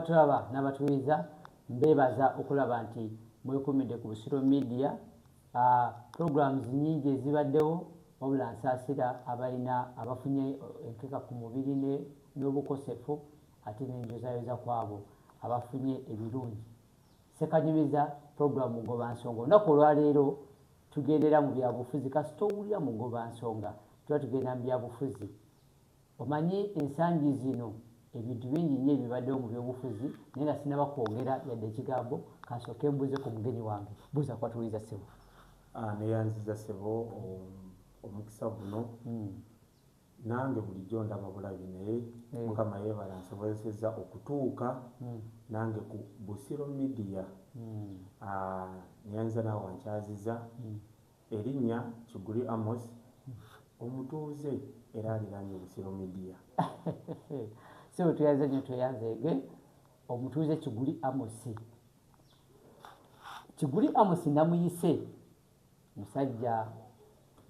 abatulaba n'abatuwiza mbeebaza okulaba nti mwekumidde ku busiro media uh, programs nyingi ezibaddewo wabula nsaasira abalina abafunye enkeka ku mubiri n'obukosefu ate nenjozayoza kwabo abafunye ebirungi sekanyumiza program mugoba nsonga olunaku olwaleero tugendera mu byabufuzi kasita owulira mugoba nsonga tuba tugenda mu byabufuzi Omanyi ensangi zino ebintu bingi nnyo ebibadewo mu byobufuzi naye nga sinaba kwogera yadde ekigambo kansooke mbuze ku mugenyi wange. Buuza ku batuwuliriza ssebo. Aah neyanziza ssebo omukisa guno. Nange bulijjo ndaba bulabi naye mukama yebale ansobozesezza okutuuka nange ku Busiro media. Aah neyanziza naawe wankyaziza. Erinnya Kiguli Amos, omutuuze era aliraanye Busiro Media. Ssebo tweyanze nnyo tweyanze ge omutuuze Kiguli Amos. Kiguli Amos namuyise musajja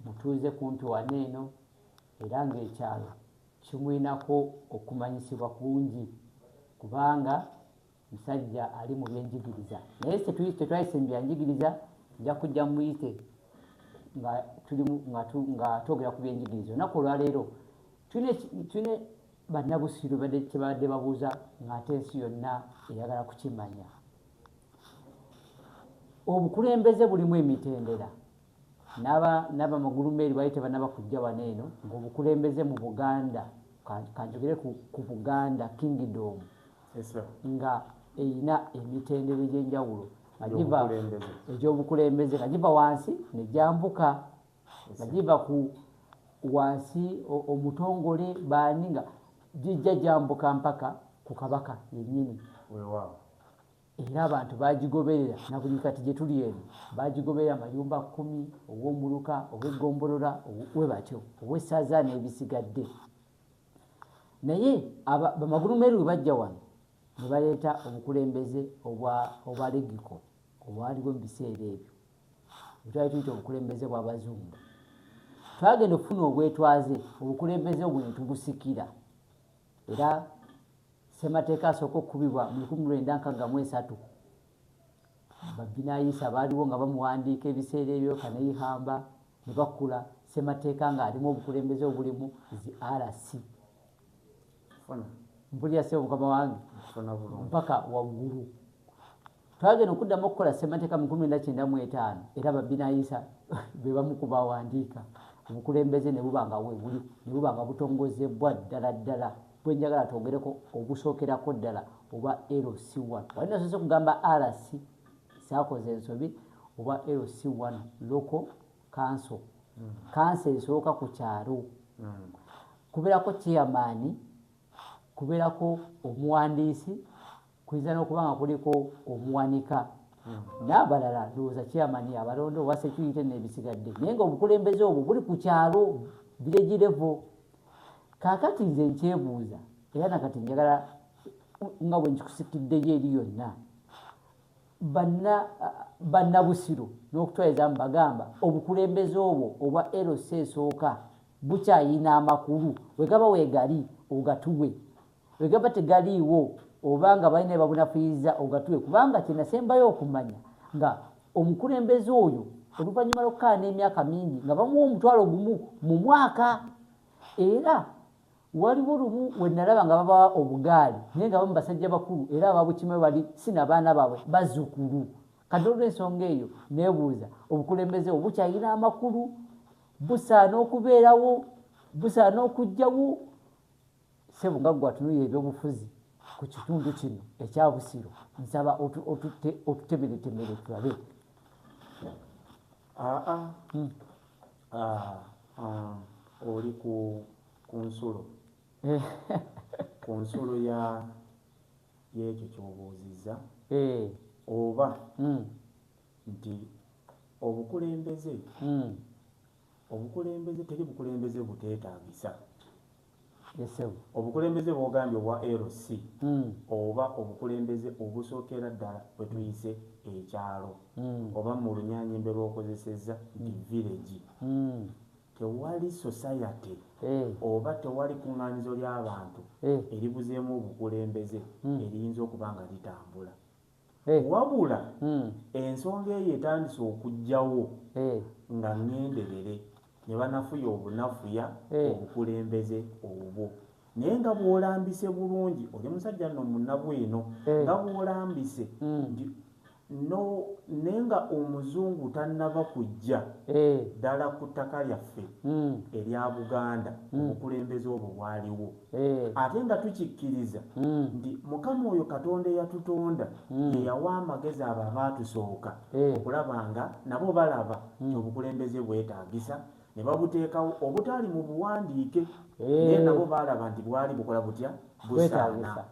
mutuuze kumpi wano eno era ng'ekyalo kimulinako okumanyisibwa kungi kubanga musajja ali mu byenjigiriza naye tetwayise mu byanjigiriza nja kujja muyite nga tulimu nga twogera ku byenjigiriza olunaku olwaleero tulina bannabusiru kyebabadde babuuza ngaate ensi yonna eyagala kukimanya obukulembeze bulimu emitendera N'aba n'aba magulumeeri baali tebanaba kujja wano eno ng'obukulembeze mu Buganda ka kanjogere ku ku Buganda Kingdom Yes sir. nga eyina emitendera egy'enjawulo nga giva Egy'obukulembeze. egy'obukulembeze nga giva wansi ne gyambuka nga giva ku wansi o- omutongole baani nga gijja gyambuka mpaka ku Kabaka yennyini. Weewaawo. era abantu bagigoberera na buli kati gye tuli eno bagigoberera mayumba kkumi ow'omuluka ow'eggombolola we batyo ow'essaza n'ebisigadde naye bamagulu meeru we bajja wano ne baleeta obukulembeze obwa legiko obwaliwo mu biseera ebyo bwetwali tuyita obukulembeze bw'abazungu twagenda okufuna obwetwaze obukulembeze obwo ne tugusikira era Ssemateeka asooka okukubibwa mu lukumi mu lwenda nkagga mu esatu. Babbinaayisa baaliwo nga bamuwandiika ebiseera ebyo Kaneyihamba ne bakula Ssemateeka ng'alimu obukulembeze obulimu zi RC. Mpulira ssebo mukama wange mpaka waggulu. Twagenda okuddamu okukola ssemateeka mu kumi nakyenda mu etaano era babbinayisa be bamu ku bawandiika obukulembeze ne buba nga weebuli ne buba nga butongozebbwa ddala ddala bwe njagala twongereko obusookerako ddala oba LC1 wali nasoose kugamba RC saakoze ensobi oba LC1 local council kansa hmm. esooka ku kyalo hmm. kubeerako chairman kubeerako omuwandiisi Kuyinza n'okuba nga kuliko omuwanika n'abalala ndowooza chairman abalonda owa security n'ebisigadde naye nga obukulembeze obwo buli ku kyalo village level kaakati nze nkyebuuza era nakati njagala nga bwe nkikusikiddeyo eri yonna bannabusiru n'okutwaliza mu bagamba obukulembeze obwo obwa lc esooka bukyayina amakulu wegaba wegali ogatuwe Bwegaba tegaliiwo oba nga balina byebabunafuyiza ogatule kubanga kyenasembayo okumanya nga omukulembeze oyo oluvanyuma lwokukaana emyaka mingi nga bamuwa omutwalo gumu mu mwaka era waliwo lumu wenalaba nga babawa obugaali naye nga bamu basajja bakulu era ababukimayo bali si nabaana baabwe bazukulu kati olwensonga eyo nebuuza obukulembeze obwo bukyalina amakulu busaana okubeerawo busaana okujjawo Ssebo nga ggwe atunuulira ebyobufuzi ku kitundu kino ekya Busiro nsaba otutemeretemere tulabe. Aa hmm. oli ku nsulo eh. ku nsulo y'ekyo ky'obuuzizza eh. oba hmm. nti obukulembeze hmm. obukulembeze teri bukulembeze buteetaagisa Obukulembeze bwogambye obwa LC oba obukulembeze obusokera ddala bwetuyise ekyalo oba mulunyaanyembe lwokozesezza nti village, tewali society oba tewali kungaanizo lyabantu eribuzeemu obukulembeze eriyinza okuba nga litambula. Eh. wabula hmm. ensonga eyo etandise okujjawo eh. nga ŋŋenderere ne banafuya obunafuya eh. obukulembeze obwo naye nga bw'olambise bulungi oli musajja no munabu eno nga bw'olambise hmm. no naye nga omuzungu tannaba kujja ddala ku ttaka lyaffe hmm. erya buganda obukulembeze obwo bwaliwo Eh. ate nga tukikkiriza hmm. nti mukama oyo katonda eyatutonda hmm. yeyawa amagezi abo abaatusooka eh. okulaba nga nabo balaba hmm. nti obukulembeze bwetaagisa ne babuteekawo obutaali mu buwandiike eh. naye nabo baalaba nti bwali bukola butya busaana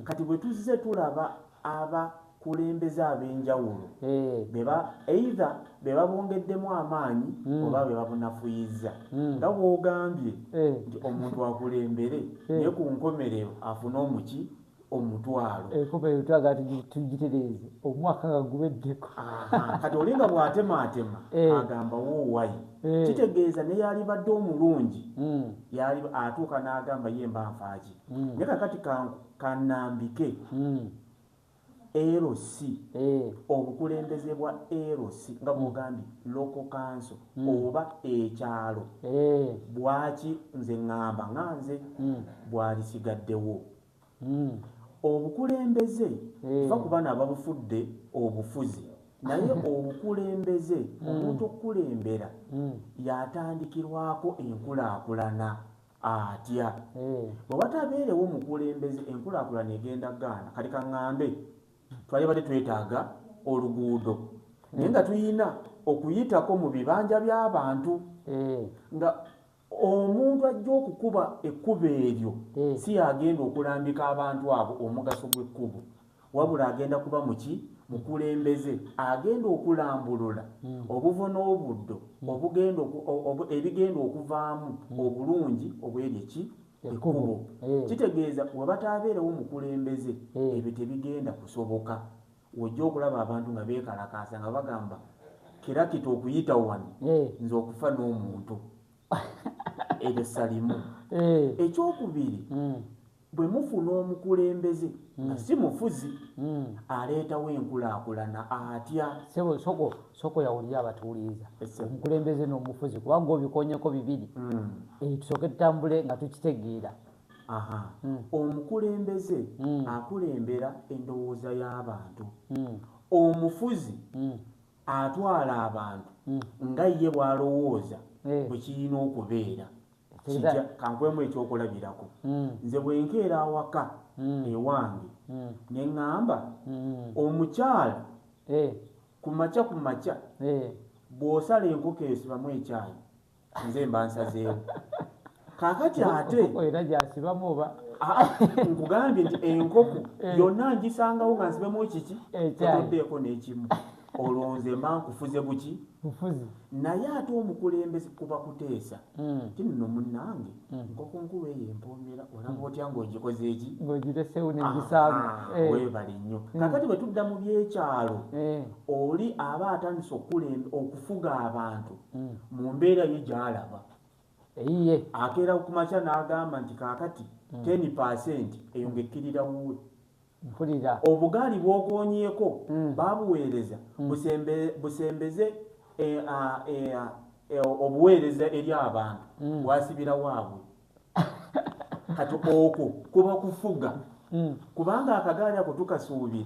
kati bwe tuzze tulaba aba kulembeza ab'enjawulo eh. beba either bebabongeddemu amaanyi hmm. oba bebabunafuyizza hmm. nga bwogambye eh. nti omuntu akulembere eh. naye ku nkomerero afune omuki omutwalo enkomerero twaga tugitereeze omwaka nga gubeddeko kati olinga bwatemaatema agamba woowayi kitegeeza neyalibadde omulungi hmm. yali atuuka n'agamba ye mba nfaaki naye kakati kanambike LC obukulembeze bwa LC nga bwogambye local council oba ekyalo bwaki nze ngamba nga nze bwalisigaddewo obukulembeze va kubano ababufudde obufuzi naye obukulembeze omuntu okukulembera yatandikirwako enkulakulana atya hmm. bwe watabeerewo mukulembeze enkulaakulana egenda gaana kati kaŋŋambe twali badde twetaaga oluguudo naye nga tulina okuyitako mu bibanja by'abantu hmm. nga omuntu ajja okukuba ekkubo eryo hmm. si yagenda okulambika abantu abo omugaso gw'ekkubo wabula agenda kuba muki mukulembeze agenda okulambulula hmm. obuvo n'obuddo hmm. ebigenda okuvaamu hmm. obulungi obweri eki ekkubo kitegeeza webataabeerewo mukulembeze ebyo tebigenda kusoboka wojja okulaba abantu nga beekalakaasa nga bagamba kirakita okuyita wano nze okufa n'omuntu ebyo salimu ekyokubiri Bwe mufuna omukulembeze nga si mufuzi aleetawo enkulaakulana atya? Ssebo soko soko yawulira abatuwuliriza omukulembeze n'omufuzi kuba gwe obikonyeko bibiri eyo tusooke tutambule nga tukitegeera. Omukulembeze akulembera endowooza y'abantu. Omufuzi atwala abantu nga ye bw'alowooza bwe kirina okubeera. kijja kankwemu ekyokulabirako mm. nze bwenkeera awaka mm. ewange mm. neŋŋamba mm. omukyala hey. Eh. ku makya ku makya hey. Eh. bw'osala enkoko esibamu ekyayi nze mba nsazeewo kakati ate era gyasibamu oba ah, nkugambye nti enkoko eh. yonna ngisangawo nga nsibemu kiki etoddeeko n'ekimu Olwo nze mba nkufuze buki? Bufuzi. Naye ate omukulembeze kuba kuteesa. Mm. Ti nno munnange, mm. nkoko nkulu eyo empoomera olaba mm. otya ng'ogikoze eki? Ng'ogireseewo ne ngisaamu. Eh. Weebale nnyo. Mm. Kakati bwe tudda mu by'ekyalo, eh. oli aba atandise okukulemba okufuga abantu mm. mu mbeera ye gy'alaba. Eyiye. Akeera ku makya n'agamba nti kaakati mm. ten percent eyo ng'ekkirira wuwe. Mpulira. Obugaali bw'okoonyeeko baabuweereza busembe busembeze e, a, e, a, e, obuweereza eri abantu, bwasibira waabwe. Kati okwo kuba kufuga. Kubanga akagaali ako tukasuubira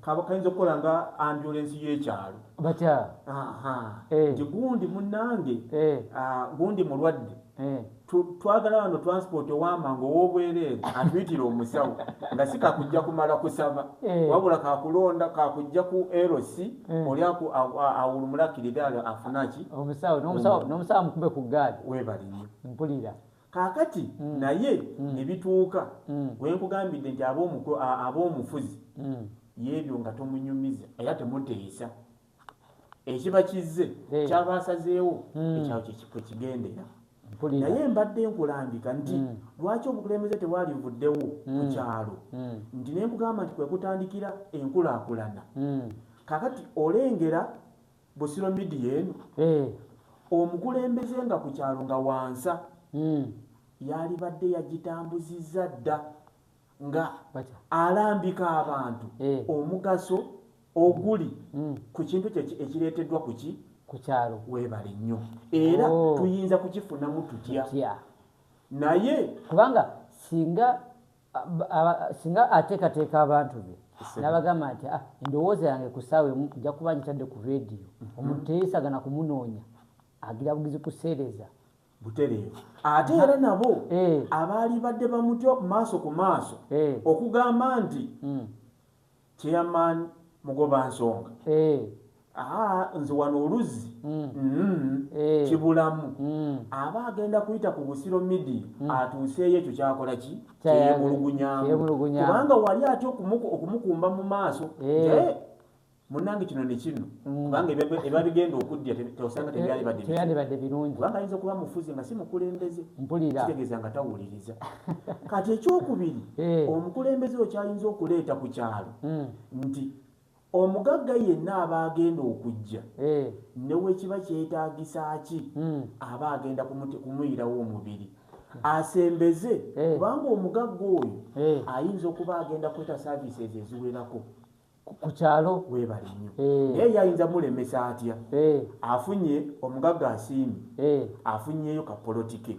kaba kayinza okukola nga ambyulensi y'ekyalo. Batya? Aha. Eh. Nti gundi munnange, Eh. ah, gundi mulwadde. Eh. Twagala wano transport owamanga owobwereere atuyitire omusawo nga si kakujja kumala kusaba eh. wabula kakulonda kakujja ku LC eh. oli awulumulakirire ali afunaki omusawo mukube ku gaali webali nnyo mpulira kakati mm. naye mm. ne bituuka mm. wenkugambidde nti ab'omufuzi yebyo nga tomunyumiza era temuteesa ekiba kizze eh. kyaba asazeewo hmm. ekyawo kyekikwe kigendera naye mbadde nkulambika nti hmm. lwaki obukulembeze tewalivuddewo hmm. ku kyalo nti nenkugamba nti kwekutandikira enkulaakulana kakati olengera busiro midiya eno eh. omukulembeze nga ku kyalo nga wansa yalibadde yagitambuzizza dda nga alambika abantu eh. omugaso oguli mm. ku kintu kye ekireeteddwa ku ki ku kyalo weebale nnyo era oh. tuyinza kukifunamu tutya naye kubanga singa singa ateekateeka abantu be nabagamba nti ah, endowooza yange ku saawa emu nja kuba nkitadde ku rediyo mhm. omuntu teyeesagana kumunoonya agira bugizi kuseereza butereevu ate era nabo eh. abaalibadde bamutya maaso ku maaso eh. okugamba nti hmm. chairman mugoba nsonga eh. aa nze wano oluzzi hmm. Hmm. kibulamu aba agenda kuyita ku busiro midia atuuseeyo ekyo kyakola ki kyeyemulugunyamukubanga wali atya okumukumba mu maaso munange kino nekino mm. kubanga eba bigenda okudya tosanga tebyalibadde birungi kubanga ayinza okuba mufuzi nga si mukulembeze kitegeeza nga tawuliriza kati ekyokubiri eh. omukulembeze okyayinza okuleeta ku kyalo mm. nti omugagga yenna aba agenda okujja eh. newekiba kyetagisa ki mm. aba agenda kumuyirawo omubiri asembeze eh. kubanga omugagga oyo ayinza okuba agenda kweta services eziwerako ku kyalo weebale nnyo eh. naye yayinza mulemesa atya eh. afunye omugagga asiimi eh. afunyeyo kapolotike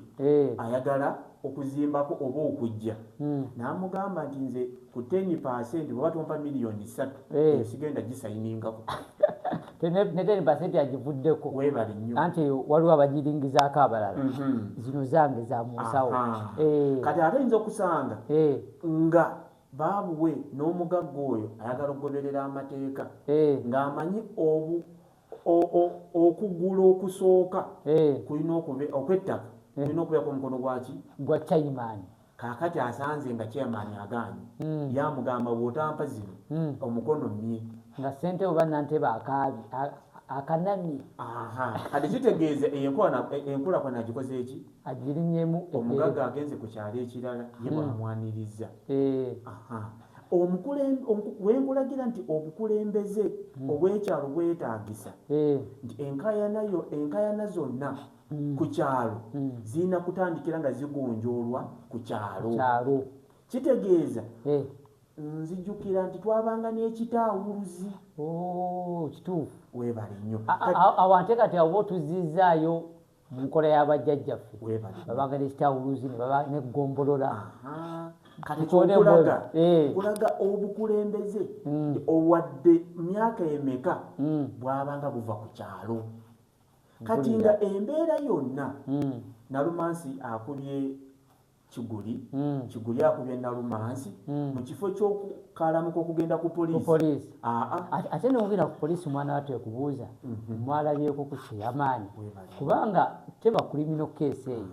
ayagala okuzimbako oba okujja hmm. n'amugamba nti nze ku ten percent bweba tompa miliyoni ssatu eyo sigenda gisayiningako neten basente yagivuddeko webali nyo anti waliwo abagiringizaako abalala mhm. zino zange za munsawo kati ate yinza okusanga nga Babuwe n'omugagga oyo ayagala okugoberera amateeka ng'amanyi obu, o, o, okugula okusooka kulina okube, okw'ettaka kulina okubeerako omukono gwa ki? Gwa chairman. Kaakati asanze nga chairman agaanyi. Ye amugamba, Bw'otampa zino, omukono mmye. Nga ssentebe oba nantebe akaabye, a, akanamye. Aha. Kati kitegeeza eyo enkola, e, enkulaakulana agikoze ki? agirinyemu omugaga agenze ku kyalo ekirala ye hmm. bwamwanirizza eh. wenkulagira nti obukulembeze hmm. obwekyalo bwetagisa eh. nti enkayanayo enkayana zonna hmm. ku kyalo zirina kutandikira nga zigonjoolwa ku kyalo kitegeeza eh. nzijukira nti twabanga n'ekitaawuluzi oh, kituufu webale nnyo awo ante kati awoba otuzizzaayo mu nkola ya bajjajjaffe babanga nekikyawuluzi nebaba neggombolola kati kyokulaga eh. kulaga obukulembeze mm. owadde myaka emeka mm. bwabanga buva ku kyalo kati nga embeera yonna mm. nalumansi akubye Kiguli mm. Kiguli akubye Nalumansi mm. mu kifo ky'okukalamuka okugenda ku poliisi ate nogenda ku poliisi omwana watu ekubuuza mm -hmm. mwalabyeko ku kyeyamaanyi kubanga teba kulimino keesi eyo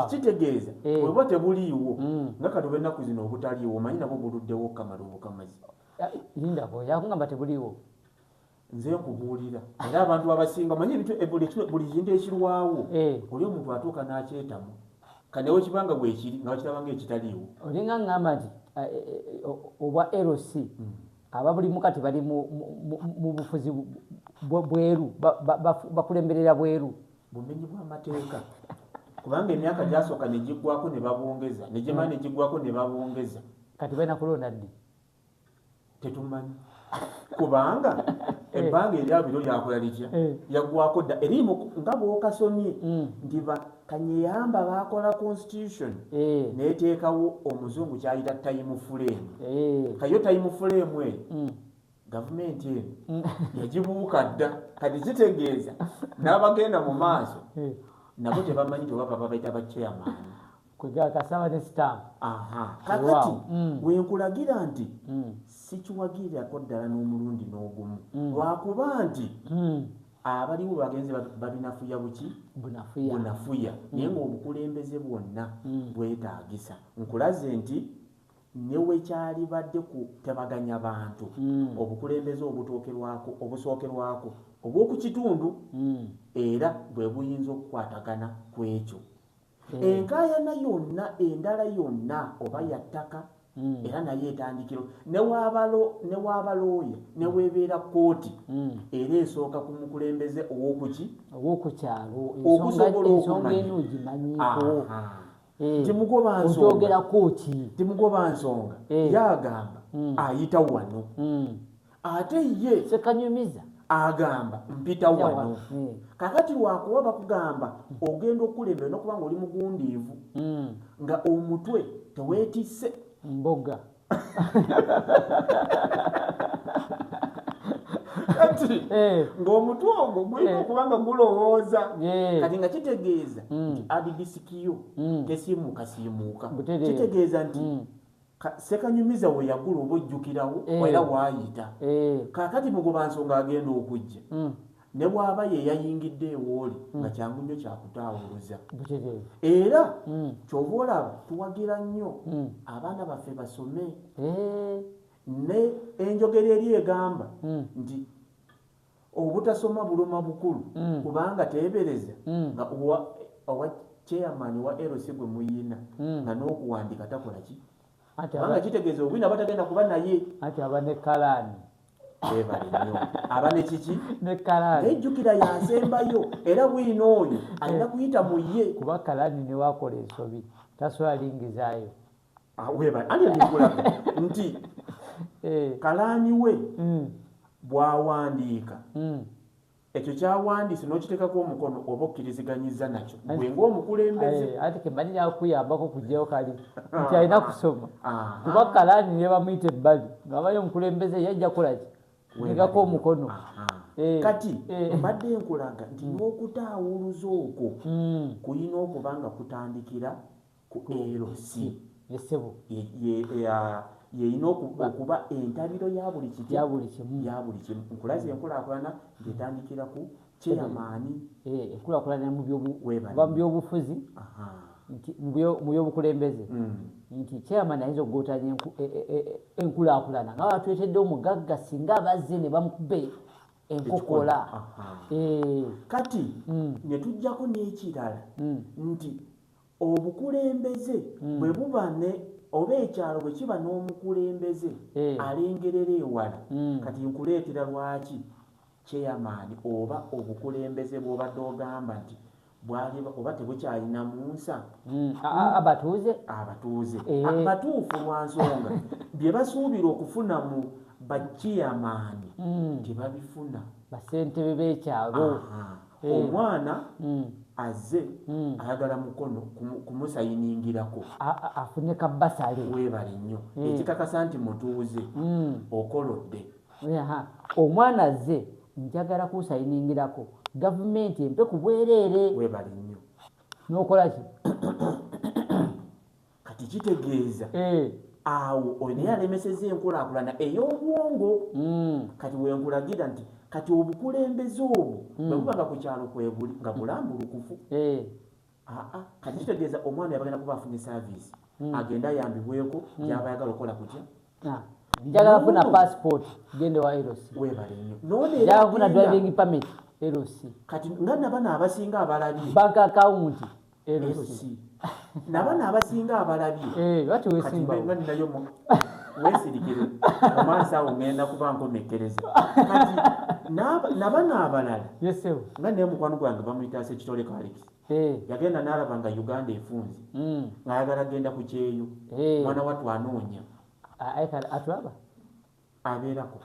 kitegeeza eh. weba tebuliiwo mm. nga kati oba ennaku zino obutaliiwo omanyi nabwo buluddewo okamala obukamazi lindako yakugamba tebuliiwo nze nkubuulira era abantu abasinga manye buli kintu ekirwawo eh. oli omuntu atuuka n'akyetamu kanewo kibanga bwekiri nga wakirabanga ekitaliiwo olinga ngamba nti eh, eh, obwa lc hmm. ababulimu kati bali mu bufuzi bweru bakulemberera bweru bumenyi bw'amateeka kubanga emyaka gyasooka negiggwako ne babongeza negimala hmm. negiggwako ne babongeza kati balina kulonda ddi tetumanyi kubanga eh. ebbanga eryabiro lyakola litya eh. yagwako dda erimu nga bwokasomye hmm. nti kanyeyamba bakola constitution eh. neteekawo omuzungu kyayita time flame kayo time flame e hmm. gavumenti eno hmm. yagibuuka dda kati kitegeeza n'abagenda mu maaso nabo tebamanyi tewaba babaita bakyeyamaani kwegakasaba ne stamp kakati mm. wenkulagira nti mm. sikiwagirirako ddala n'omulundi n'ogumu mm. lwakuba nti abaliwo bagenze babinafuya buki bunafuya naye ngaobukulembeze bwonna bwetaagisa nkulaze nti newekyalibadde ku tabaganya bantu obukulembeze obutokerwako obusookerwako obw'oku kitundu era bwe buyinza okukwatagana ku ekyo Hmm. enkaayana yonna endala yonna oba hmm. yattaka hmm. era naye etandikiro newaaba looya neweebeera kkooti era esooka ku mukulembeze owokuki owokukyalo okusobola okumanyitimugoba eh. nsonga eh. yagamba ayita wano ate ye sekanyumiza agamba mpita wano eh. kakati wakuba bakugamba ogenda okukulembera nokuba nga oli mugundiivu hmm. nga omutwe tewetise mboga kati eh. ngaomutwe ogwo gulina eh. okuba nga gulowooza kati nga kitegeeza hmm. nti adidisikiyo hmm. tesiimuukasiimuuka kitegeeza nti Ssekanyumiza we yagula oba ojjukirawo eh. era waayita. Eh. Kaakati mugobansonga agenda okujja. Hmm. ne bw'aba ye yayingidde ewooli hmm. nga kyangu nnyo kyakutaawuluza era hmm. kyova olaba tuwagira nnyo hmm. abaana baffe basome ne enjogera eri egamba nti Obutasoma buluma bukulu mm. kubanga tebereza mm. nga owa, owa chairman wa LC gwe muyina mm. nga n'okuwandika takola ki kubanga kitegeeza obwina batagenda kuba naye ati aba ne kalaani ebale nnyo aba ne kiki ne kalaani nejjukira yasembayo era bwina oyo alina kuyita mu ye kuba kalaani newakola ensobi taswalingizayo Ah, andikulaba nti eh. kalaani we hmm. bwawandiika hmm. ekyo kyawandiise n'okiteekako omukono oba okkiriziganyiza nakyo gwe ngaomukulembezekuyambako eh, kujjayo kali nti alina kusoma kuba kalaani ne bamuyita ebbali ngaabayo omukulembeze yajja kulaki negako omukono eh, kati mbadde nkulaga nti n'okutaawuluza okwo kuyina okuba nga kutandikira ku LC ye ssebo ye ye ya yeyina oku- Ba- okuba entabiro ya buli kiti ya buli kimu ya buli kimu nkulaze enkulaakulana ng'etandikira ku kyeyamaani Eh, enkulaakulana mu byobu- Weebale. kuva mu byobufuzi aha nti mu byo- mu byobukulembeze Mm. nti chairman ayinza okugootanya enku- e- e- e- enkulaakulana nga batwetedde omugagga singa abazze ne bamukuba e- enkokola Aha. Eh, kati Mm. ne tujjako n'ekirala mm, nti Obukulembeze bwe buba ne, oba ekyalo bwe kiba n'omukulembeze alengerera ewala, kati nkuleetera lwaki Chairman oba obukulembeze bw'obadde ogamba nti bwali oba tebukyalinamu nsa, abatuuze, abatuuze batuufu lwa nsonga bye basuubira okufuna mu ba Chairman tebabifuna. Bassentebe b'ekyalo. Eh. omwana mm. aze mm. ayagala mukono kumusayiningirako afune kabasale webale nnyo mm. ekikakasa nti mutuuze mm. okolodde omwana aze njagala kunsayiningirako gavumenti empe kubwereere webale nnyo nokolaki kati kitegeeza eh. awo oyo naye alemeseza enkulakulana ey'obwongo hmm. kati wenkulagira nti kati obukulembeze obwo hmm. bwebuba nga ku kyalo kwebuli nga bulambulukufu eh. aa kati kitegeeza omwana yabagenda kuba afunye saviisi hmm. agenda ayambibweko gyaba ayagala okukola kutya ah. njagala funa passport gende wa eros njagala funa driving permit eros kati nga nabana abasinga abalabye bank account LC nabano abasinga abalabye katiwesimbayo wesirikire omwansi awo ngenda kuba nkomekereza kati nabano abalala nga naye mukwano gwange bamuyitaasa ekitole kaliki yagenda nalaba nga uganda efunze mm. ngayagala genda ku kyeyo mwana watu anoonya atulaba abeerako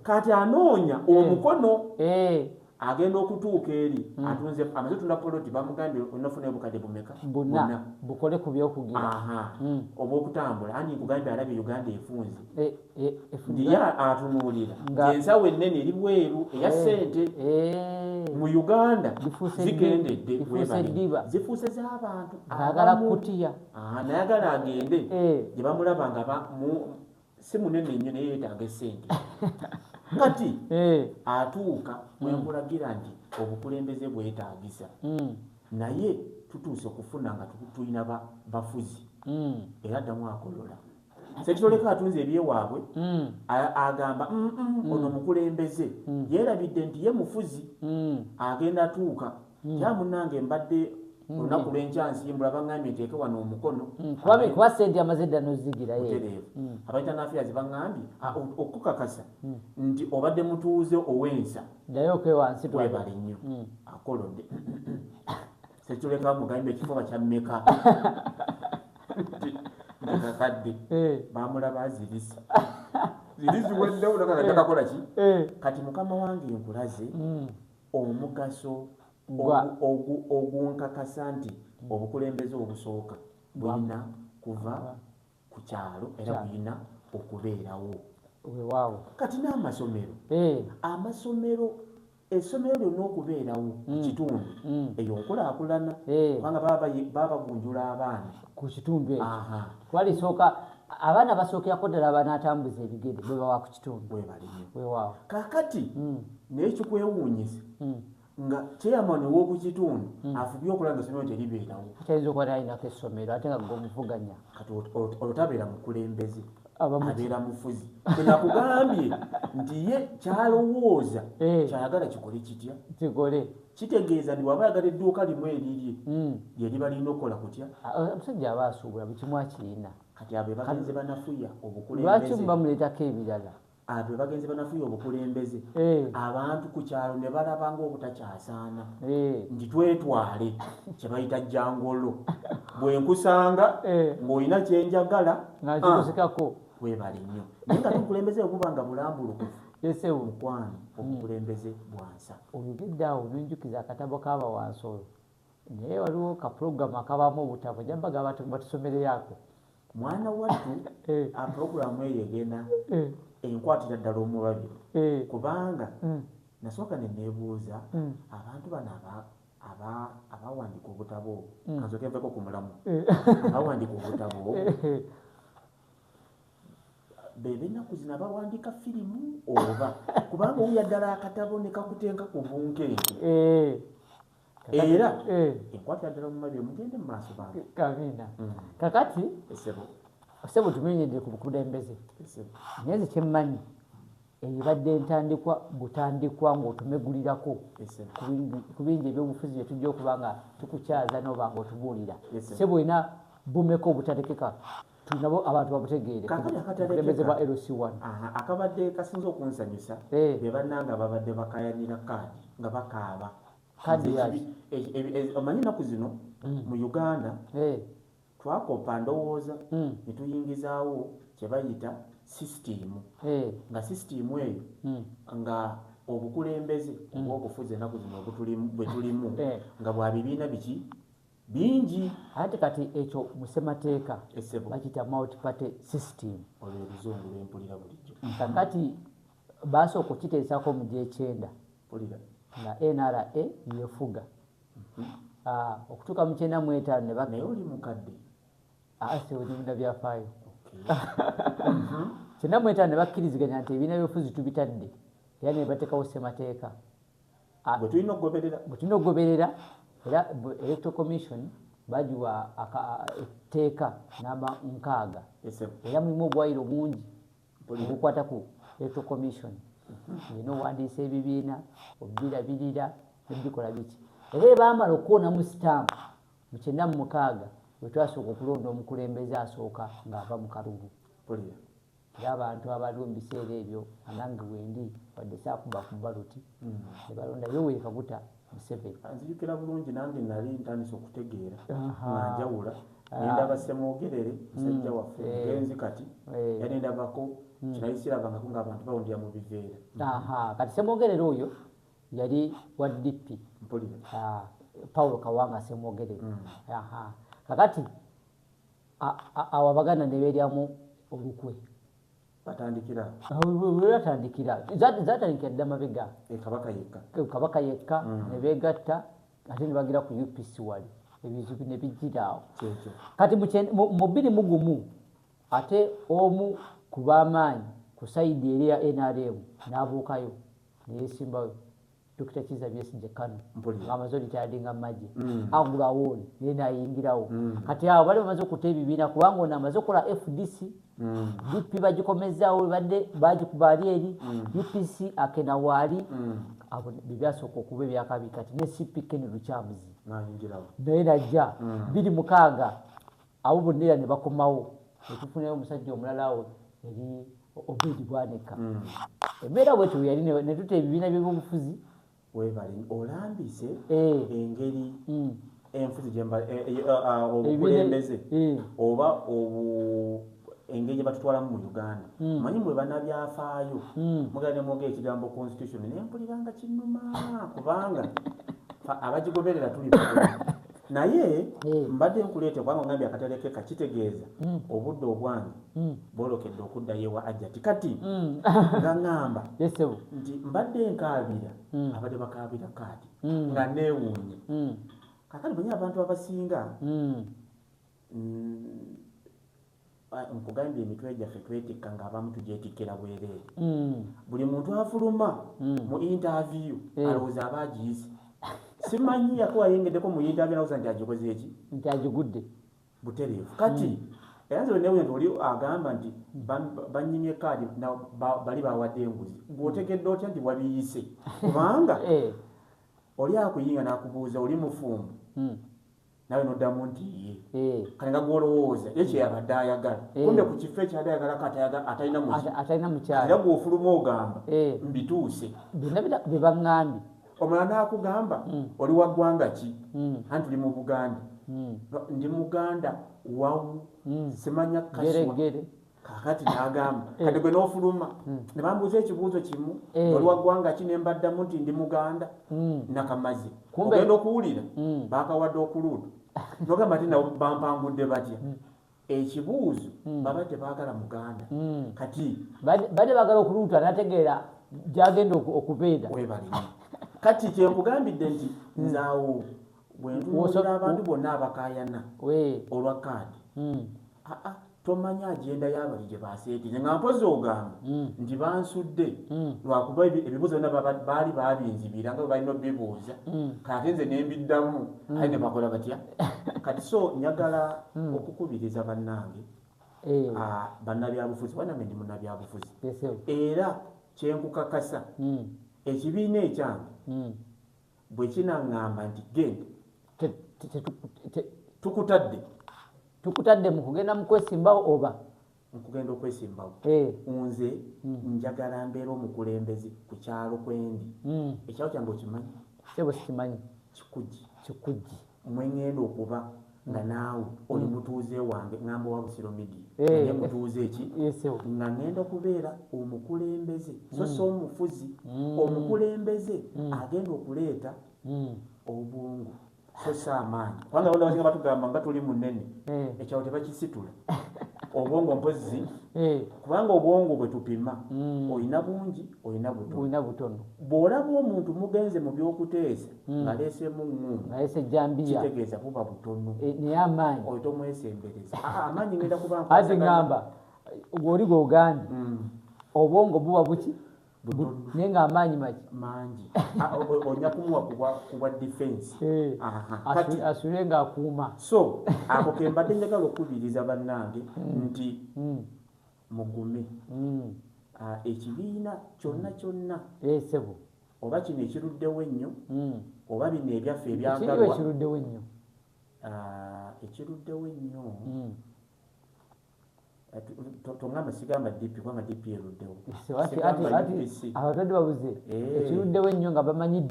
kati anoonya mm. omukono eh. agenda okutuuka eri mm. atunze amaze tunda poloti bamugambye onafuna obukadde bumeka buna bukole ku byokugera mm. oba okutambula andi nkugambye alabye uganda efunze eh, eh, ndiye atunuulira ensawo ennene eri bweru eya sente mu uganda zigendedde zifuuse z'abantu agala kutiya ah, nayagala agende gyebamulaba nga si munene nnyo naye yetaaga esente kati eh. atuuka mwenkulagira mm. nti obukulembeze bwetaagisa mm. naye tutuuse okufuna nga tulina bafuzi mm. era ddamu akolola sekitoleko atunze ebyewaabwe agamba ono mukulembeze yeerabidde nti ye mufuzi agenda tuuka Hmm. ya munange mbadde hmm. olunaku lwenkya nsimbula baŋambye nteeke wano omukono hmm. kuba sente amaze dda nozigirayotereevu abaitanafiya zibaŋambye okukakasa nti obadde mutuuze owensa dayokewebale nnyo akolode sekituleka mugambye ekifuba kyammeka kakadde eh. bamulaba azirisa ziriziweddewo nakakajakakolaki eh. kati mukama wange nkulaze omugaso ogunkakasa nti obukulembeze obusooka bulina kuva ku kyalo era bulina okubeerawo wewaawo kati n'amasomero eh. amasomero essomero lyonna okubeerawo mm. kitundu mm. eyo nkulaakulana eh. kubanga babagunjula abaana ku kitundu ekyo twalisooka abaana basookera ko ddala banatambuza ebigere bwebawaku kakati hmm. naye kikwewuunyisa hmm. nga chairman ow'oku kitundu hmm. afubye okulaba nga essomero teribeerawo tayinza okuba nalinako essomero ate nga gomuvuganya kati olwo tabeera mukulembeze abeera mufuzi enakugambye nti ye kyalowooza eh. kyayagala kikole kitya kikole kitegeeza nti waba ayagala edduuka limu erirye lyeriba lirina okukola kutya ah, eh, omusajja aba asuubula buli kimu akirina kati abo bagenze banafuya obukulembeze lwaki bamuleetako ebirala abo bagenze banafuya obukulembeze eh. abantu ku kyalo ne balaba ng'obutakyasaana eh. nti twetwale kye bayita jangolo bwe nkusanga eh. ng'olina kye njagala nkikozekako ah. webale nnyo naye nga tobukulembeze okuba nga bulambulukufu esewo mukwano obukulembeze bwansa oyogedde awo nonjukiza akatabo k'abawansi olwo naye waliwo ka program akabamu obutavu nyambaga abantu batusomereyako mwana wattu eh. a program eyo egenda eh. enkwatira ddala omubabi eh. kubanga mm. nasooka nenebuuza mm. abantu bano aba abawandika obutabo mm. kanzokeveko ku mulamu abawandika obutabo bebenaku zina bawandika firimu oba kubanga owuya ddala akatabo nekakutenka ku bunkenke era eh. ekwatira ddala mu mabiri mugende mu maaso bange amiina mm. kakati osebo tumenyedde ku bukulembeze naye nze kyemmanyi ebibadde entandikwa butandikwa ng'otumegulirako ku bingi ebyobufuzi bye tujja okuba nga tukukyaza n'oba ng'otubuulira se bwena bumeka obutatekeka nabo abantu babutegeere kulembeze ba lc1 akabadde kasinza okunsanyusa eh. be bannanga babadde bakayanira kaadi nga bakaaba omanyi ennaku zino hmm. mu uganda eh. twakopa ndowooza hmm. netuyingizaawo kyebayita sisitiimu eh. nga sisitiimu eyo hmm. nga obukulembeze obwobufuzi enaku zino bwetulimu nga bwa bibiina biki bingi ate kati ekyo musemateeka bakita multi party system kakati baasa okukiteesako mu gyekyenda nga nra yefuga mhm. ah, okutuuka mu kyenda mu etaano nebamukadde asiwonyumina ah, byafaayo mhm. kyenda mu etaano nebakkiriziganya nti ebiina byofuzi tubitadde era nebatekawo semateeka ah, gwe tulina okugoberera gwe tulina okugoberera era electro commission bagiwa etteeka namba nkaaga era mulimu obwayiro bungi obukwata ku electro commission mhm. ina owandiisa ebibiina obirabirira nebikola biki era ebamala okuwonamu sitamu mu kyenda mu mukaaga wetwasooka okulonda omukulembeze asooka ng'ava mu kalulu Era abantu abaliwo mu biseera ebyo anange wendi wadde saakuba ku baluti mm. ne balonda yo weekaguta Museveni. Nzijukira bulungi nange nali ntandise okutegeera nga njawula ah. ne ndaba Ssemwogerere musajja mm. waffe eh. mugenzi kati eh. era ne ndabako mm. kinali sirabangako ng'abantu bawundira mu biveera. Kati Ssemwogerere oyo yali wa DP. Mpulira. Ah, Paulo Kawanga Ssemwogerere. Kakati awo abaganda ne beeryamu olukwe batandikira webatandikira zatandikira dda mabega e kabaka yekka e kabaka yekka mm. ne beegatta ate ne bagira ku upc wali ebizibu ne bijjira awo kati mu bbiri mu gumu ate omu ku b'amaanyi ku sayidi eri ya nrm n'abuukayo neyesimbayo Dokita Kiza Besigye Kanu ng'amaze olitaadinga magye mm. agula wooni naye nayingirawo mm. kati awo bali bamaze okuta ebibiina kubanga ono amaze okukola FDC mm. DP bagikomezaawo badde bagikubaali eri UPC akena waali abo byebyasooka okuba ebyakabi kati ne CP Ken Lukyamuzi naye najja biri mukaaga awo bonna era ne bakomawo netufunayo omusajja omulala awo eri obedi bwanika hmm. embeera bwetyo weyali netuta ebibiina byebyobufuzi webali olambise eh. engeri hmm. enfuzi eh, eh, ah, ah, obukulembeze oba engeri gyebatutwalamu mu uganda hmm. manyi mwe banabyafaayo mugane mwogera ekigambo constitution nempuliranga kinuma kubanga abagigoberera tuli naye hmm. mbadde nkuleete kubanga ogambye akatale keka kitegeeza hmm. obudde obwange hmm. bwolokedde okuddayo ewa ajjati kati nga ŋamba nti mbadde nkaabira abadde bakaabira kaati nga neewuunye kakati bwenye abantu abasinga Nkugambye emitwe gyaffe twetikka ng'abamu tugyetikkira bwereere. Mm. Buli muntu afuluma mm. mu intaaviyu eh. alowooza aba agiyize. Simanyi yakuwa ayengeddeko mu intaaviyu alowooza nti agikoze eki? Nti agigudde. Butereevu. Kati mm. era nze wenewunya nti oli agamba nti bannyimye kaadi bali bawadde enguzi. Gw'otegedde otya nti wabiyise? Kubanga eh. oli akuyinga n'akubuuza oli mufumbo. nawe noddamu nti ye eh. kale nga gwolowooza ye kyeyabadde ayagala eh. kumbe ku kifo ekyabadde ayagalako atalina mukyalaera gwofuluma ogamba eh. mbituuse byebaŋambye omala nakugamba hmm. oli wa ggwanga ki hmm. anti oli mu buganda hmm. ndi muganda wawu simanya kaswa kakati nagamba eh. kati gwe nofuluma hmm. ne bambuuza ekibuuzo kimu eh. oli waggwanga ki ne mbaddamu nti ndi muganda hmm. nakamazi ogenda okuwulira hmm. bakawadde okuluutu nogamba ti nawe bampangudde batya ekibuuzo baba tebagala muganda kati bade bagala okuluuta nategeera gyagenda okubeera webalina kati kyenkugambidde nti nzaawo bwentunuulira abantu bonna abakayana olwa kaadi hmm. aa ah, ah, tomanya agenda yabali gye baseetinze nga mpozi ogamba hmm. nti bansudde hmm. lwakuba ebibuuzo byona baali babinzibira nga balina obibuuza kati nze nembiddamu aye ne bakola batya kati so njagala okukubiriza bannange eh. ah, bannabyabufuzi banange ndi munabyabufuzi era kyenkukakasa ekibiina ekyange bwe kinaŋŋamba nti genda tukutadde tukutadde mu kugenda mu kwesimbawo oba nkugenda okwesimbawo eh. nze hmm. njagala mbeera omukulembeze ku kyalo kwendi hmm. ekyalo kyange okimanyi sebo sikimanyi kikugi kikugi mwe ngenda okuba nga mm. naawe mm. oli mutuuze wange ngamba owa busiro media eh. naye mutuuze eki nga ngenda okubeera omukulembeze so mm. si omufuzi omukulembeze agenda okuleeta obwongo so si amaanyi kubanga abanda basinga batugamba nga tuli munene eh. ekyawo tebakisitula obwongo mpozi eh. kubanga obwongo bwe tupima olina bungi olina butono bw'olaba omuntu mugenze mu by'okuteesa hmm. ngaleesemu ŋŋuunualesejjambiyakitegeeza buba butono eh, naye amaanyi oyo tomwesembereza ah, ah, amaanyi ngenda kubaati ŋamba gwoli gwogambye hmm. obwongo buba buki naye nga amaanyi maki mangi ah, onya kumuwa kubwa defense eh, asule nga akuuma so ako kembadde njagala okukubiriza bannange hmm. nti mugume ekibiina kyonna kyonna esebo oba kino ekiruddewo ennyo hmm. oba bino ebyaffe ebyagalwa ekiruddewo ennyo ah, ekiruddewo ennyo hmm. tongamba sigamba dp kubanga dp eruddewo abatadde babuze eh. ekiruddewo ennyo nga bamanyi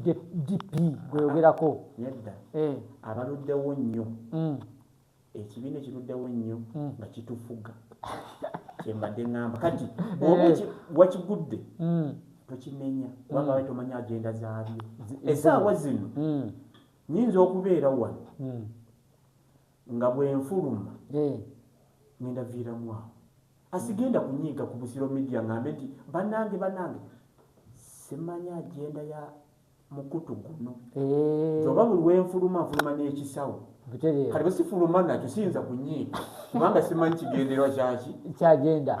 dp gweyogerako nedda eh. abaluddewo nnyo hmm. Ekibiina ekiruddawo ennyo hmm. nga kitufuga kyembadde ŋŋamba kati bwoba eh. wakigudde hmm. tokimenya kubanga wali hmm. tomanya agenda zaabyo esaawa zino nyinza okubeera wano nga bwenfuluma eh. ngenda viiramu awo asigenda kunyiiga ku busiro media ŋambe nti banange banange simanya agenda ya mukutu guno eh. oba buli wenfuluma nfuluma n'ekisawo kati bwesifuluma nakyo siyinza kunyiika kubanga simanyi kigenderwa kyaki kyagenda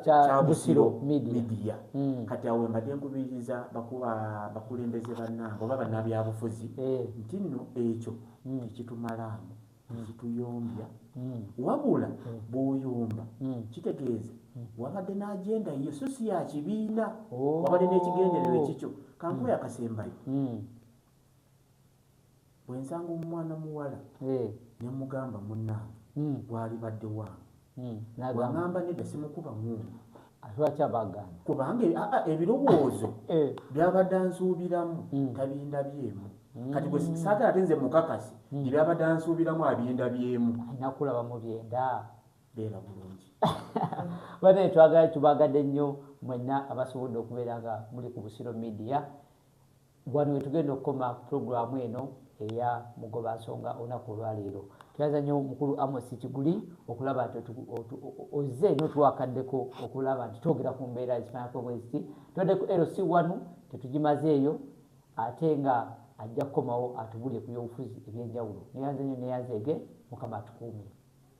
kya busiro midiya hmm. kati awo mbadde nkubiriza bakuba bakulembeze bannange oba bannabyabufuzi eh. nti nno ekyo hmm. tekitumalamu zituyombya mm. wabula mm. bwoyomba mm. kitegeeza wabadde n'agenda yiyo so si yakibiina oh. wabadde n'ekigendererwa ekikyo kankuwa yakasembayo bwensanga omwana muwala eh. nemugamba munange gwalibadde wange hmm, wangamba nedda simukuba mundu lwaki abagaana kubanga e, ebirowoozo eh. byabadde ansuubiramu hmm. tabindabyemu hmm. kati gwe saagala ate nze mukakasi ebyabadde ansuubiramu abindabyemu nakulaba mu byenda beera bulungi bane twagadde tubaagadde nnyo mwenna abasobodde okubeera nga muli ku busiro midiya Wano wetugenda okukoma pulogulaamu eno eya mugoba nsonga olunaku olwaleero. Twebaza nnyo mukulu Amos Kiguli okulaba nti ozze notwakaddeko okulaba nti twogera ku mbeera ekifaanako bweziti. Tubadde ku LC wanu tetugimazeeyo ate nga ajja kukomawo atubulire ku byobufuzi ebyenjawulo. Neyanze nnyo neyanzeege mukama atukuume.